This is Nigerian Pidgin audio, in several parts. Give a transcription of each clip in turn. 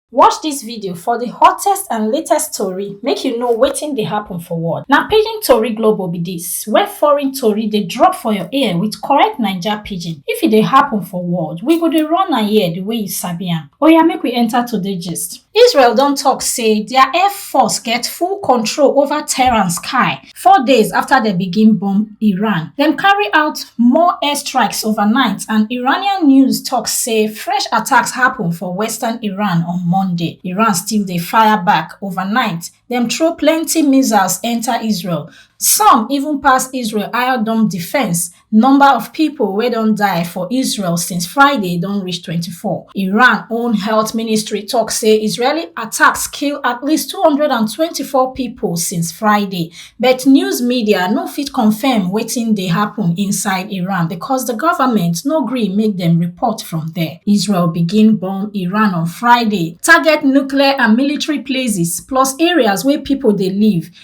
Watch dis video for di hottest and latest tori make you know wetin dey happen for world. Na Pidgin Tori Global be dis, where foreign tori dey drop for your ear with correct Naija Pidgin. If e dey happen for world, we go dey run am here di way you sabi am. Oya make we enter today gist. Israel don talk say dia air force get full control over Tehran sky four days afta dem begin bomb iran dem carry out more air strikes overnight and iranian news tok say fresh attacks happun for western iran on monday iran still dey fire back overnight dem throw plenty missiles enta israel some even pass israel iron dome defence Number of pipo wey don die for Israel since Friday don reach 24. Iran own health ministry tok say Israeli attacks kill at least 224 pipo since Friday, but news media no fit confirm wetin dey happun inside Iran because di government no gree make dem report from there. Israel begin bomb Iran on Friday, target nuclear and military places plus areas wey pipo dey live,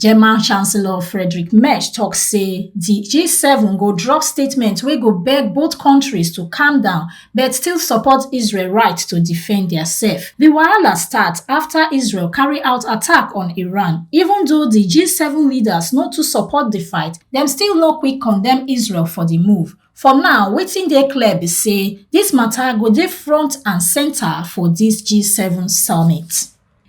German Chancellor Friedrich Merz tok say di G7 go drop statement wey go beg both kontris to calm down but still support Israel right to defend diasef. Di wahala start afta Israel carry out attack on Iran. Even though di G7 leaders no too support di fight, dem still no quick condemn Israel for di move. For now, wetin dey clear be say dis mata go dey front and centre for dis G7 summit.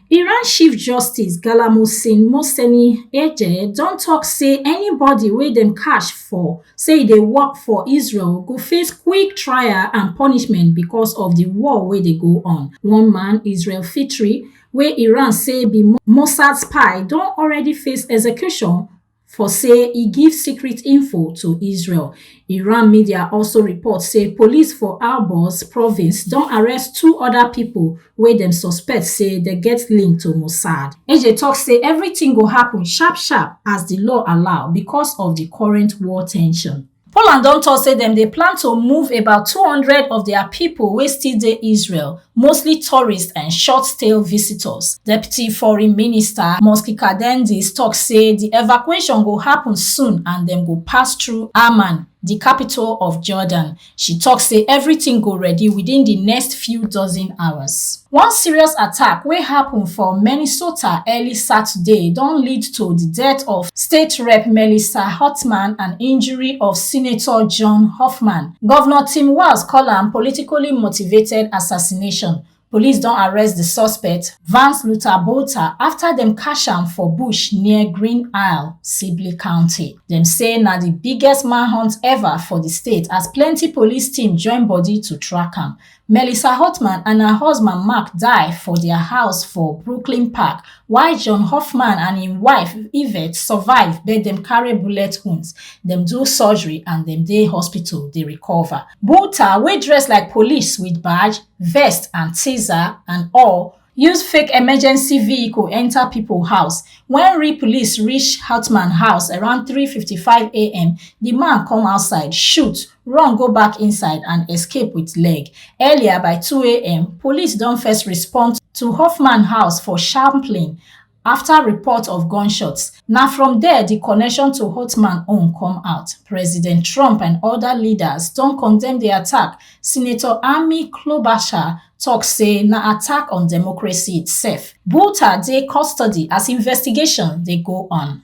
Iran chief justice Galamusin Moseni Eje don tok say anybody wey dem catch for say e dey work for Israel go face quick trial and punishment because of di war wey dey go on. One man, Israel Fitri, wey Iran say be Mossad spy don already face execution for say e give secret info to israel iran media also report say police for alborz province don arrest two oda pipo wey dem suspect say dem get link to mossad eje tok say everytin go happun sharp sharp as di law allow becos of di current war ten sion poland don tok say dem dey plan to move about 200 of dia pipo wey still dey israel mostly tourists and short stay visitors deputy foreign minister mosky kadendis tok say di evacuation go happun soon and dem go pass through amman di capital of jordan she tok say everything go ready within di next few dozen hours One serious attack wey happen for Minnesota early Saturday don lead to di death of State Rep Melissa Hotman and injury of Senator John Hoffman. Governor Tim Walz call am politically motivated assassination. Police don arrest di suspect, Vance Luther Bolter, after dem catch am for bush near Green Isle, Sibley County. Dem say na di biggest manhunt ever for di state as plenty police team join body to track am. Melissa Hartman and her husband Mark die for dia house for Brooklyn Park, while John Hoffman and im wife Yvette survive but dem carry bullet wounds. Dem do surgery and dem dey hospital dey recover. Bouter, wey dress like police wit badge, vest and taser and all, use fake emergency vehicle enter pipo house wen real police reach hautmans house around 3:55am di man come outside shoot run go back inside and escape wit leg earlier by 2am police don first respond to hoffman house for sharply afta report of gunshots na from there di connection to holtman own come out president trump and oda leaders don condemn di attack senator amy klobuchar tok say na attack on democracy itself bhuta dey custody as investigation dey go on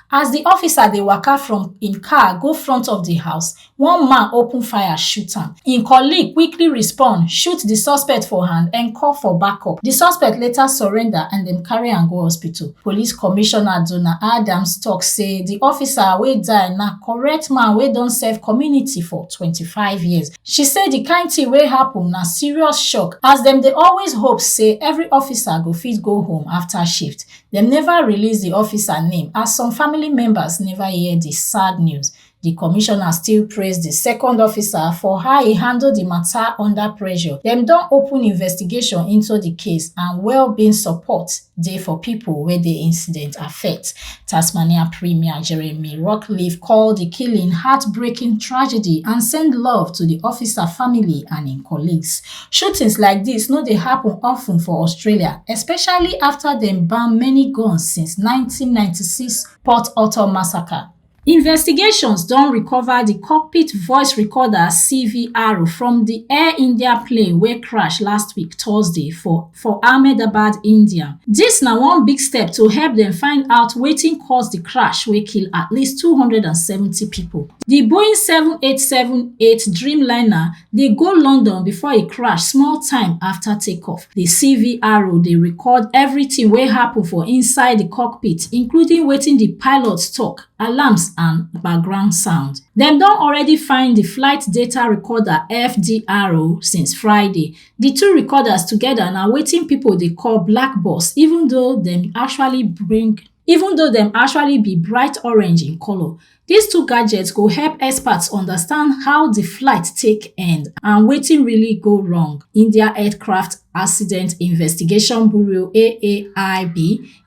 as di officer dey waka from im car go front of di house one man open fire shoot am im colleague quickly respond shoot di suspect for hand and call for backup di suspect later surrender and dem carry am go hospital police commissioner donna adams tok say di officer wey die na correct man wey don serve community for 25 years she say di kain tin wey happun na serious shock as dem dey always hope say every officer go fit go home afta shift dem neva release di officer name as some family members neva hear di sad news di commissioner still praise di second officer for how e handle di mata under pressure dem don open investigation into di case and well-being support dey for pipo wey di incident affect tasmania premier jeremy rockliff call di killing heartbreaking tragedy and send love to di officer family and im colleagues Shootings like dis no dey happun of ten for Australia, especially afta dem ban many guns since nineteen ninety six Port Author massacre. Investigations don recover di cockpit voice recorder CVR from di Air India plane wey crash last week Thursday for for Ahmedabad, India. Dis na one big step to help dem find out wetin cause di crash wey kill at least 270 pipo. Di Boeing 7878 Dreamliner dey go London before e crash small time afta takeoff. Di CVRO dey record evritin wey happun for inside di cockpit, including wetin di pilots tok, alarms and background sound. Dem don already find di flight data recorder, FDRO, since Friday. di two recorders togeda na wetin pipo dey call black box even though dem actually bring even though dem actually be bright orange in colour dis two gadgets go help experts understand how di flight take end and wetin really go wrong india aircraft accident investigation bureau aaib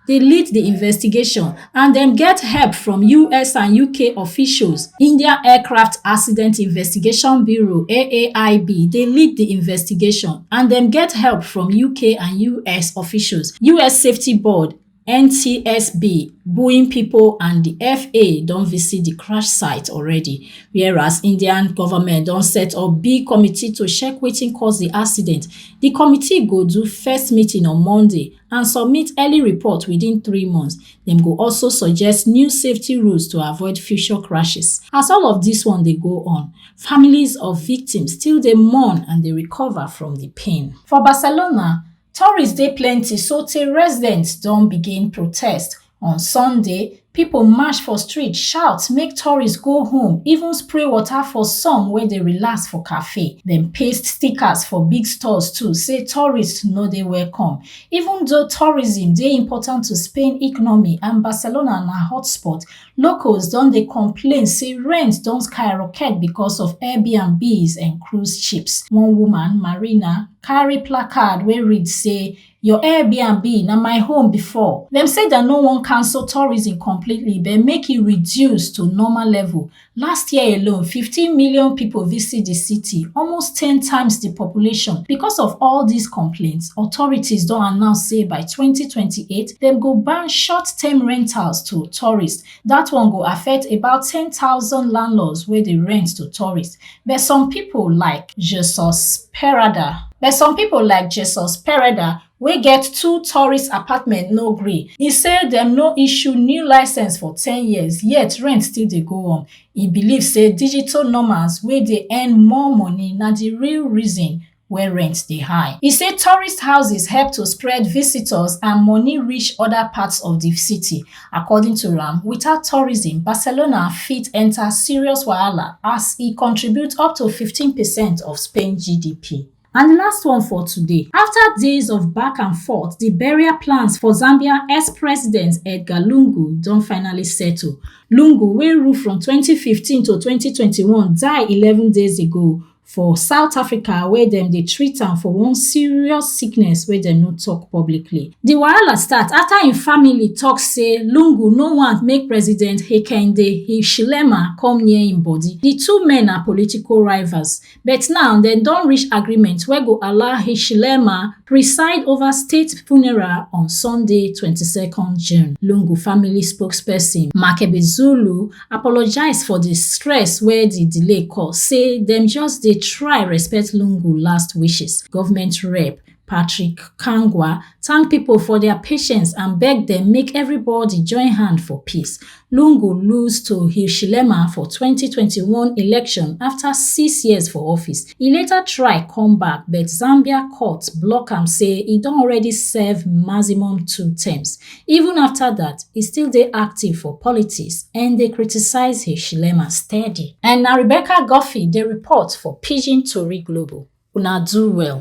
dey lead di investigation and dem get help from us and uk officials india aircraft accident investigation bureau aaib dey lead di investigation and dem get help from uk and us officials us safety board ntsb boeing pipo and di faa don visit di crash site already whereas indian goment don set up big committee to check wetin cause di accident di committee go do first meeting on monday and submit early report within three months. Dem go also suggest new safety rules to avoid future crashes. As all of dis one dey go on, families of victims still dey mourn and dey recover from di pain. For Barcelona, tourists dey plenty sotey residents don begin protest On Sunday, pipo march for street shout make tourists go home, even spray water for some wey dey relax for cafe. Dem paste stickers for big stores too say tourists no dey welcome. Even though tourism dey important to Spain economy and Barcelona na hotspot, locals don dey complain say rent don skyrocket because of Airbnbs and cruise ships. One woman, Marina, carry placard wey read say Your Airbnb na my home before. Dem say dem no wan cancel tourism completely but make e reduce to normal level. Last year alone, 15 million people visit di city, almost ten times di population. Because of all dis complaints, authorities don announce say by 2028, dem go ban short-term rentals to tourists, Dat one go affect about ten thousand landlords wey dey rent to tourists, but some pipo like Jesus Pereda but some pipo like Jesus Pereda wey get two tourist apartments no gree. E say dem no issue new licence for ten years yet rent still dey go on. E believe say digital nomads wey dey earn more money na di real reason wey rent dey high. E say tourist houses help to spread visitors and money reach other parts of di city. According to am, without tourism, Barcelona fit enter serious wahala as e contribute up to 15 percent of Spain GDP. And the last one for today. After days of back and forth, the burial plans for Zambia ex-president Edgar Lungu don finally settle. Lungu, wey rule from 2015 to 2021, die 11 days ago for south africa wia dem dey treat am for one serious sickness wey dem no tok publicly di wahala start afta im family tok say lungu no want make president hekinde hichilema come near im body di two men na political rivals but now dem don reach agreement wey go allow hichilema preside over state funeral on Sunday 22nd June. Lungu family spokesperson Makebe Zulu apologize for the stress where the delay cause, say them just they try respect Lungu last wishes. Government rep Patrick Kangwa thank people for their patience and beg them make everybody join hand for peace. Lungu lose to Hichilema for 2021 election after six years for office. E later try come back but Zambia court block am say e don already serve maximum two terms. Even after that, e still dey active for politics and dey criticize Hichilema steady. And na Rebecca Guffey dey report for Pidgin Tori Global. Una do well.